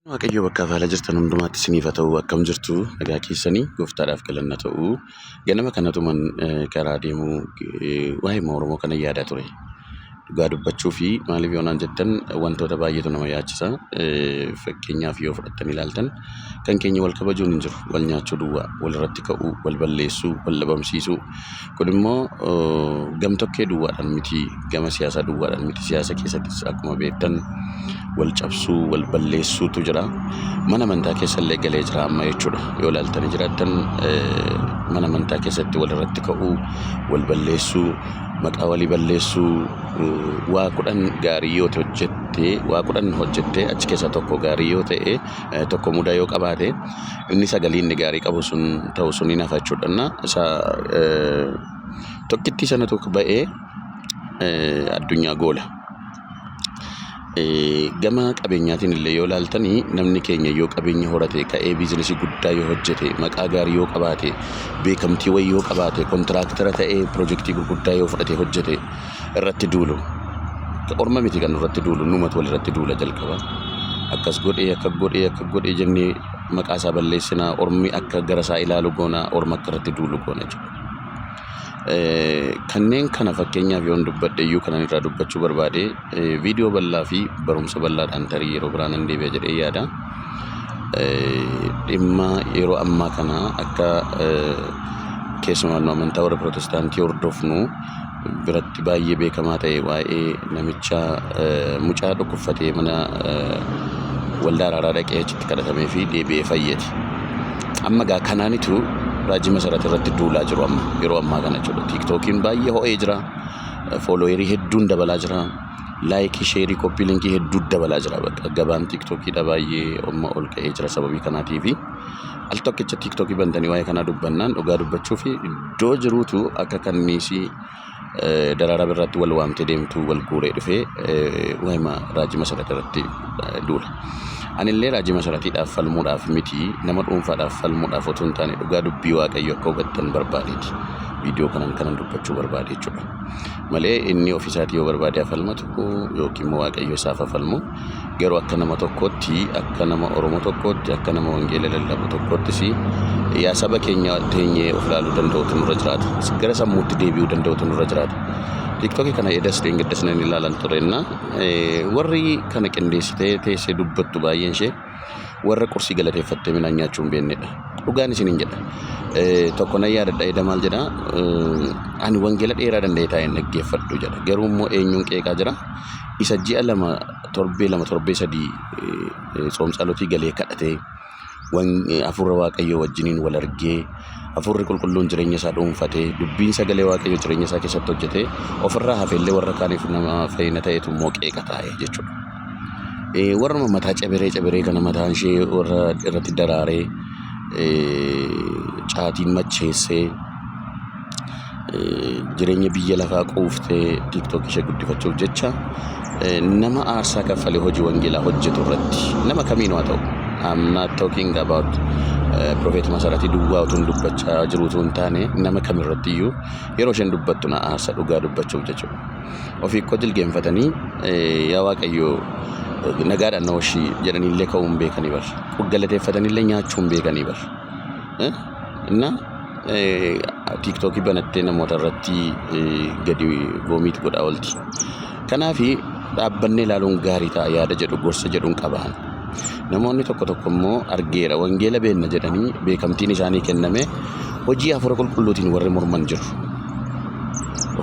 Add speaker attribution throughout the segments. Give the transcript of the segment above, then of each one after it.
Speaker 1: Waaqayyo bakkaaf haala jirtan hundumaatti isiniif haa ta'u akkam jirtu nagaa keessanii gooftaadhaaf galanna ta'u ganama kanatuman karaa deemu waa'ee Oromoo kana yaadaa ture. Dhugaa dubbachuu fi maaliif yoo naan jettan wantoota baay'eetu nama yaachisa. Fakkeenyaaf yoo fudhattanii ilaaltan kan keenya wal kabajuun hin jiru. Wal nyaachuu duwwaa, wal irratti ka'uu, wal balleessuu, wal dhabamsiisuu. Kun immoo gamtokkee duwwaadhaan miti, gama siyaasaa duwwaadhaan miti. Siyaasa keessattis akkuma beektan wal cabsuu, wal balleessuutu jira. Mana amantaa keessa illee galee jira amma jechuudha. Yoo ilaaltanii jiraattan mana amantaa keessatti wal irratti ka'uu, wal balleessuu, maqaa walii balleessuu, waa kudhan gaarii yoo hojjette, waa kudhan hojjettee achi keessaa tokko gaarii yoo ta'e, tokko mudaa yoo qabaate, inni sagalee inni gaarii qabu sun ta'u sun hin hafa jechuudha. Innaa isa tokkittii sanatu ba'ee addunyaa goola. Gama qabeenyaatiin illee yoo ilaaltanii namni keenya yoo qabeenya horate ka'ee biizinasii guddaa yoo hojjete maqaa gaarii yoo qabaate beekamtii wayii yoo qabaate kontiraaktara ta'ee pirojektii gurguddaa yoo fudhate hojjete irratti duulu. Orma miti kan irratti duulu numatu wal irratti duula jalqaba. Akkas godhee akka godhee akka godhee jennee maqaa isaa balleessinaa ormi akka gara isaa ilaalu goona orma akka irratti duulu goona jechuudha. Kanneen kana fakkeenyaaf yoon dubbadhe iyyuu kanan irraa dubbachuu barbaade viidiyoo bal'aa fi barumsa bal'aadhaan tarii yeroo biraa nan deebi'a jedhee yaada. Dhimma yeroo ammaa kana akka keessumaa nu amantaa warra pirootestaantii hordofnu biratti baay'ee beekamaa ta'e waa'ee namicha mucaa dhukkubfatee mana waldaa araaraa dhaqee achitti kadhatamee fi deebi'ee fayyeti. Amma gaa kanaanitu raajii masarata irratti duulaa jiru amma yeroo ammaa kana jechuudha. Tiiktookiin baay'ee ho'ee jira. Foolooyerii hedduun dabalaa jira. Laayikii, sheerii, koppii linkii hedduu dabalaa jira. Bakka gabaan tiiktookiidha baay'ee amma ol ka'ee jira sababii kanaatiifi. Al tokkicha tiiktokii bantanii waa'ee kanaa dubbannaan dhugaa dubbachuuf iddoo jiruutu akka kanniisii eh, daraaraa birraatti wal waamtee deemtuu wal guuree dhufee eh, waa'ima raajii masarat irratti eh, duula. Anillee raajii masaratiidhaaf falmuudhaaf miti nama dhuunfaadhaaf falmuudhaaf otoo hin taane dhugaa dubbii waaqayyo akka hubattan barbaadeeti. Viidiyoo kanan kanan dubbachuu barbaade jechuudha. Malee inni ofiisaatii yoo barbaade haa falmatu yookiin immoo waaqayyo isaaf haa falmu. Garuu akka nama tokkootti, akka nama Oromoo tokkootti, akka nama wangeela lallabu tokkoottis yaa saba keenya teenyee of ilaaluu danda'utu nurra jiraata. Gara sammuutti deebi'uu danda'utu nurra jiraata. Tiktokii kana edas dheengaddas nan ilaalan turenna. Warri kana qindeessitee teessee dubbattu baay'een ishee Warra qursii galateeffattee midhaan nyaachuu hin beeknedha. Dhugaan isiniin jedha. Tokko nan yaadadha eda maal jedha ani wangeela dheeraa danda'ee taa'een dhaggeeffadhu jedha. Garuu immoo eenyuun qeeqaa jira? Isa ji'a lama torbee lama torbee sadii tsoomtsaalotii galee kadhatee hafuura waaqayyoo wajjiniin wal argee hafuurri qulqulluun jireenya isaa dhuunfatee dubbiin sagalee waaqayyoo jireenya isaa keessatti hojjetee ofirraa hafeellee warra kaaniif nama fayyina ta'etu immoo qeeqa taa'e jechuudha. Warruma mataa cabiree cabiree kana mataan ishee warra irratti daraaree caatiin macheessee jireenya biyya lafaa quuftee tiktookii ishee guddifachuuf jecha nama aarsaa kaffalee hojii wangeelaa hojjetu irratti nama kamiinuu haa ta'u. I'm not talking about Prophet Masaratii duwwaa utuu hin dubbachaa jiruu utuu hin taane nama kamirratti iyyuu yeroo isheen dubbattu na aarsa dhugaa dubbachuuf jechuudha. Ofii koo jilgeenfatanii yaa waaqayyo nagaadhaan na hoshii jedhanii illee ka'uu hin beekanii bar. Galateeffatanii illee nyaachuu hin beekanii bar. Inna tiiktookii banattee namoota irratti gadi voomiit godhaa oolti. Kanaafi dhaabbannee ilaaluun gaarii ta'a yaada jedhu gorsa jedhuun qabaan. Namoonni tokko tokko immoo argeera, wangeela beenna jedhanii beekamtiin isaanii kenname hojii hafuura qulqulluutiin warri morman jiru.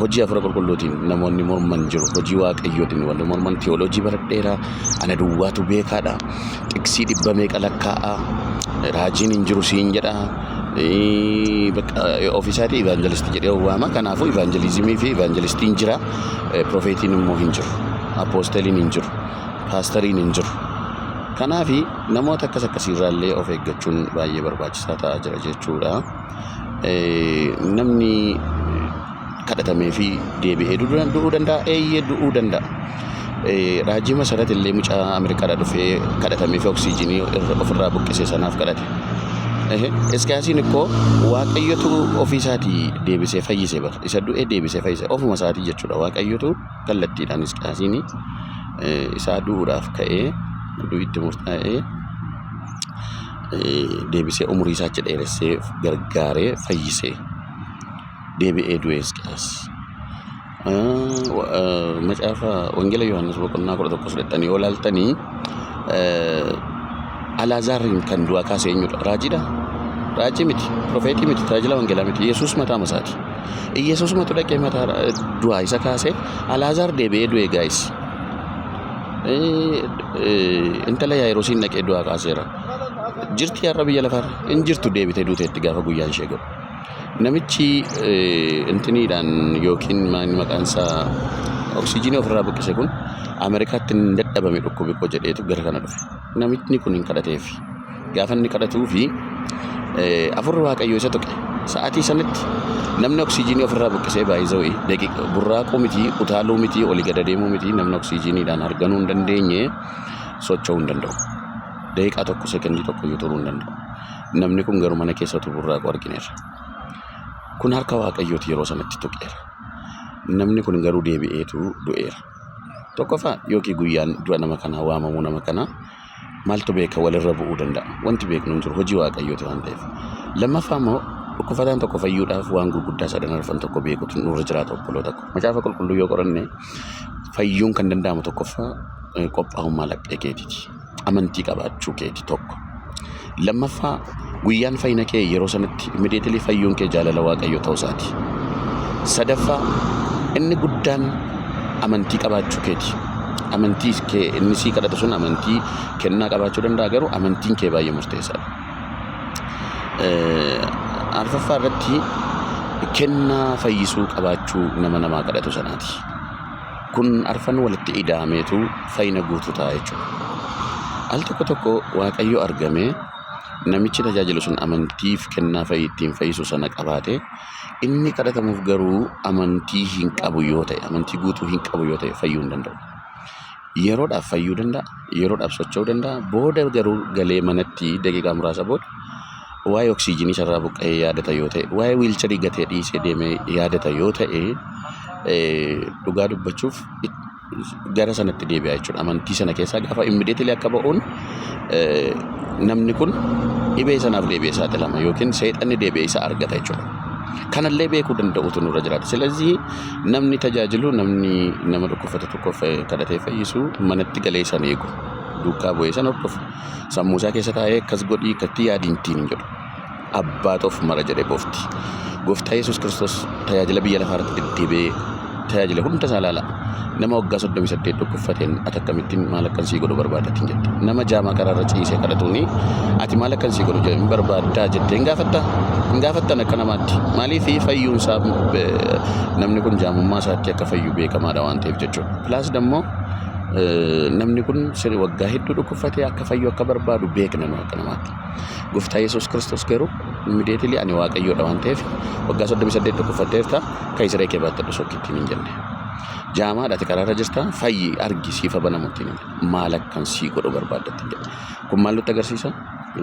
Speaker 1: Hojii hafuura qulqulluutiin namoonni morman jiru. Hojii waaqayyootiin warri morman tiyooloojii baradheera, ana duwwaatu beekaadha, xiqsii dhibba meeqa lakkaa'a, raajiin hin jiru siin jedha. Ee, bakka, ee, Ofiisaatii ivaanjelistii jedhee of waama. Kanaafuu ivaanjelizimii fi ivaanjelistiin jira, ee, profeetiin immoo hin jiru, apoosteliin hin jiru. paastariin hin jiru. Kanaaf namoota akkas akkasii irraa illee of eeggachuun baay'ee barbaachisaa ta'aa jira jechuudha. Namni kadhatamee fi deebi'ee du'uu danda'a eeyyee du'uu danda'a. Raajii Masarat illee mucaa Ameerikaadhaa dhufee kadhatamee fi oksiijinii ofirraa buqqisee sanaaf kadhate. Iskiyaasiin ikkoo waaqayyotu ofii isaatii deebisee fayyise bara isa du'e deebisee fayyise ofuma isaatii jechuudha waaqayyotu kallattiidhaan Hisqiyaasiin isaa du'uudhaaf ka'ee du'i itti murtaa'ee deebisee umurii isaa achi dheeressee gargaaree fayyisee deebi'ee du'e Hisqiyaas. Macaafa Wangeela Yohaannis boqonnaa kudha tokko fudhattanii yoo ilaaltanii Alaazaariin kan du'aa kaase eenyudha? Raajiidha? Raajii miti, profeetii miti, tajaajila wangeelaa miti. Yesuus mataa masaati. Yesuusumatu dhaqee mataa du'aa isa kaasee Alaazaar deebi'ee du'e gaayis. Intala Yaayirosiin dhaqee du'aa kaaseera. Jirti har'a biyya lafaarra? Hin jirtu deebitee duuteetti gaafa guyyaan ishee ga'u. Namichi intiniidhaan yookiin maal maqaan isaa oksijiinii ofirraa buqqise kun Ameerikaatti hin dadhabame dhukkubi koo jedheetu gara kana dhufe. Namichi kun hin kadhateef. Gaafa inni kadhatuu fi afurri waaqayyoo isa tuqe. Sa'aatii sanitti namni oksijiinii ofirraa buqqisee baay'isawee daqiiqa burraaquu miti utaaluu miti olii gad adeemuu miti namni oksijiiniidhaan harganuu hin dandeenye socho'uu hin danda'u. Daqiiqaa tokko sekondii tokko iyyuu turuu hin danda'u. Namni kun garuu mana keessa utuu burraaqu argineerra. Kun harka Waaqayyooti yeroo sanatti tuqeera. Namni kun garuu deebi'eetu du'eera. Tokkoffaa yookiin guyyaan du'a nama kanaa waamamuu nama kanaa maaltu beeka walirra bu'uu danda'a. Wanti beeknu hin jiru hojii Waaqayyooti waan ta'eef. Lammaffaa immoo dhukkufataan tokko fayyuudhaaf waan gurguddaa sadan arfan tokko beekutu nurra jiraata obboloota koo. Macaafa qulqulluu yoo qoranne fayyuun kan danda'amu tokkoffaa qophaa'ummaa laphee keetiiti. amantii qabaachuu keeti tokko. Lammaffaa guyyaan fayyina kee yeroo sanatti immediately fayyuun kee jaalala waaqayyo ta'uu isaati. Sadaffaa inni guddaan amantii qabaachuu keeti. Amantii kee inni sii kadhatu sun amantii kennaa qabaachuu danda'a garuu amantiin kee baay'ee murteessaadha. Arfaffaa irratti kennaa fayyisuu qabaachuu nama namaa kadhatu sanaati. Kun arfan walitti ida'ameetu fayyina guutuu ta'a jechuudha. Al tokko tokko Waaqayyo argamee namichi tajaajilu sun amantiif kennaa fayyii ittiin fayyisu sana qabaate inni kadhatamuuf garuu amantii hin qabu yoo ta'e amantii guutuu hin qabu yoo ta'e fayyuu hin danda'u. Yeroodhaaf fayyuu danda'a, yeroodhaaf socho'uu danda'a, booda garuu galee manatti daqiiqaa muraasa booda waa'ee oksiijinii isarraa buqqa'ee yaadata yoo ta'e, waa'ee wiilcharii gatee dhiisee deemee yaadata yoo ta'e dhugaa dubbachuuf gara sanatti deebi'a jechuudha. Amantii sana keessaa gaafa immideetilee akka ba'uun namni kun dhibee sanaaf deebi'ee saaxilama yookiin seexanni deebi'ee isa argata jechuudha. Kanallee beekuu danda'uutu nurra jiraata. Silazii Namni tajaajilu namni nama dhukkubfate tokko kadhatee fayyisu manatti galee san eegu duukaa bu'ee san hordofu sammuu isaa keessa taa'ee akkas godhii akkatti yaadiin ittiin jedhu abbaatu of mara jedhe goofti. Gooftaa Yesuus Kiristoos tajaajila biyya lafaa irratti deddeebi'ee tajaajila hunda isaa ilaala. Nama waggaa 38 dhukkubfate. uffateen ati akkamittiin maal akkan sii godhu barbaadda ittiin jette. Nama jaamaa karaarra ciisee kadhatuuni ati maal akkan sii godhu hin barbaaddaa jettee hin gaafatta? Hin gaafattan akka namaatti. Maaliif fayyuun isaa namni kun jaamummaa isaatti akka fayyu beekamaadha waan ta'eef jechuudha. Pilaas dammoo namni kun waggaa hedduu dhukkubfatee akka fayyu akka barbaadu beekna nu akka namaatti. Gooftaa Yesuus Kiristoos garuu immideetilii ani waaqayyoodha waan ta'eef waggaa 38 dhukkubfatteerta kan siree kee baattadhu sokkittiin hin jenne. Jaamaadha ati karaarra jirta fayyi argi siifa banamu itti himi. Maal akkan sii godhu barbaadda itti jedhe. Kun maal nutti agarsiisa?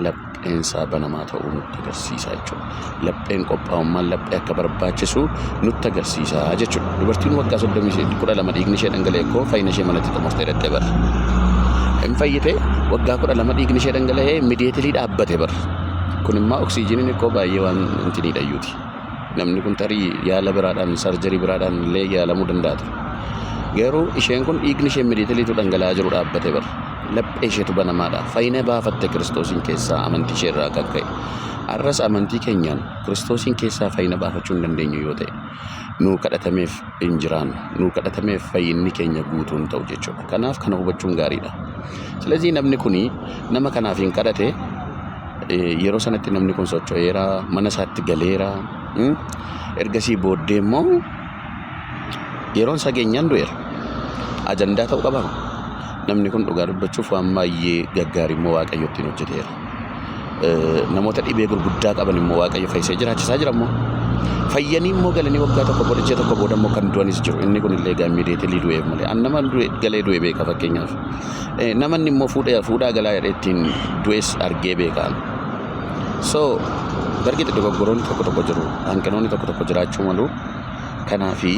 Speaker 1: Lapheen isaa banamaa ta'uu nutti agarsiisa jechuudha. Lapheen qophaa'ummaan laphee akka barbaachisu nutti agarsiisa jechuudha. Dubartiin waggaa soddomii saddeet kudha lama dhiigni ishee dhangala'e koo fayyina ishee manatti xumurtee dhaqxee bara. Hin fayyite waggaa kudha lama dhiigni ishee dhangala'ee mideetilii dhaabbate bara. Kun immoo oksijiiniin koo baay'ee waan hin tiniidhayyuuti. Namni kun tarii yaala biraadhaan, sarjarii biraadhaan illee yaalamuu danda'a ture. Garuu isheen kun dhiigni ishee miliitiliitu dhangala'aa jiru dhaabbate bar. Laphee isheetu banamaadha. Fayyina baafatte Kiristoosiin keessaa amantii ishee irraa kan ka'e. Har'as amantii keenyaan Kiristoosiin keessaa fayyina baafachuu hin dandeenyu yoo ta'e nuu kadhatameef hin jiraannu. Nuu kadhatameef fayyinni keenya guutuu hin ta'u jechuudha. Kanaaf kana hubachuun gaariidha. Silazii namni kuni nama kanaaf hin kadhate yeroo sanatti namni kun socho'eera, mana isaatti galeera. Ergasii booddee immoo yeroon isaa geenyaan du'eera. Ajandaa ta'uu qaba. Namni kun dhugaa dubbachuuf waan baay'ee gaggaarii immoo waaqayyo ittiin hojjeteera. Namoota dhibee gurguddaa qaban immoo Waaqayyo fayyisee jiraachisaa jira immoo. Fayyanii immoo galanii waggaa tokko booda ji'a tokko booda immoo kan du'anis jiru. Inni kun illee egaa immiidiyeetilii du'eef malee. An nama du'e galee du'e beeka fakkeenyaaf. Namanni immoo fuudhee fuudhaa galaa jedhee ittiin du'es argee beeka. So bargiti dogoggoroonni tokko tokko jiru. Hanqinoonni tokko tokko jiraachuu malu. Kanaafi,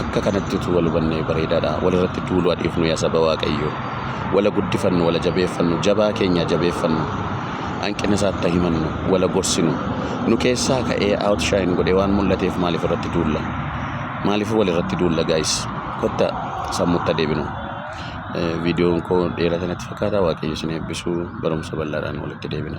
Speaker 1: akka kanatti utuu wal hubannee bareedaadha. Walirratti duuluu haa dhiifnu yaa saba Waaqayyoo. Wala guddifannu, wala jabeeffannu, jabaa keenya haa jabeeffannu. Hanqina isaatti haa himannu, wala gorsinu. Nu keessaa ka'ee outshine godhee waan mul'ateef maaliif irratti duulla? Maaliif walirratti duulla guys? Kottaa sammuutti haa deebinu. Eh, Viidiyoon koo dheerata natti fakkaata. Waaqayyo isin eebbisu. Barumsa bal'aadhaan walitti deebina.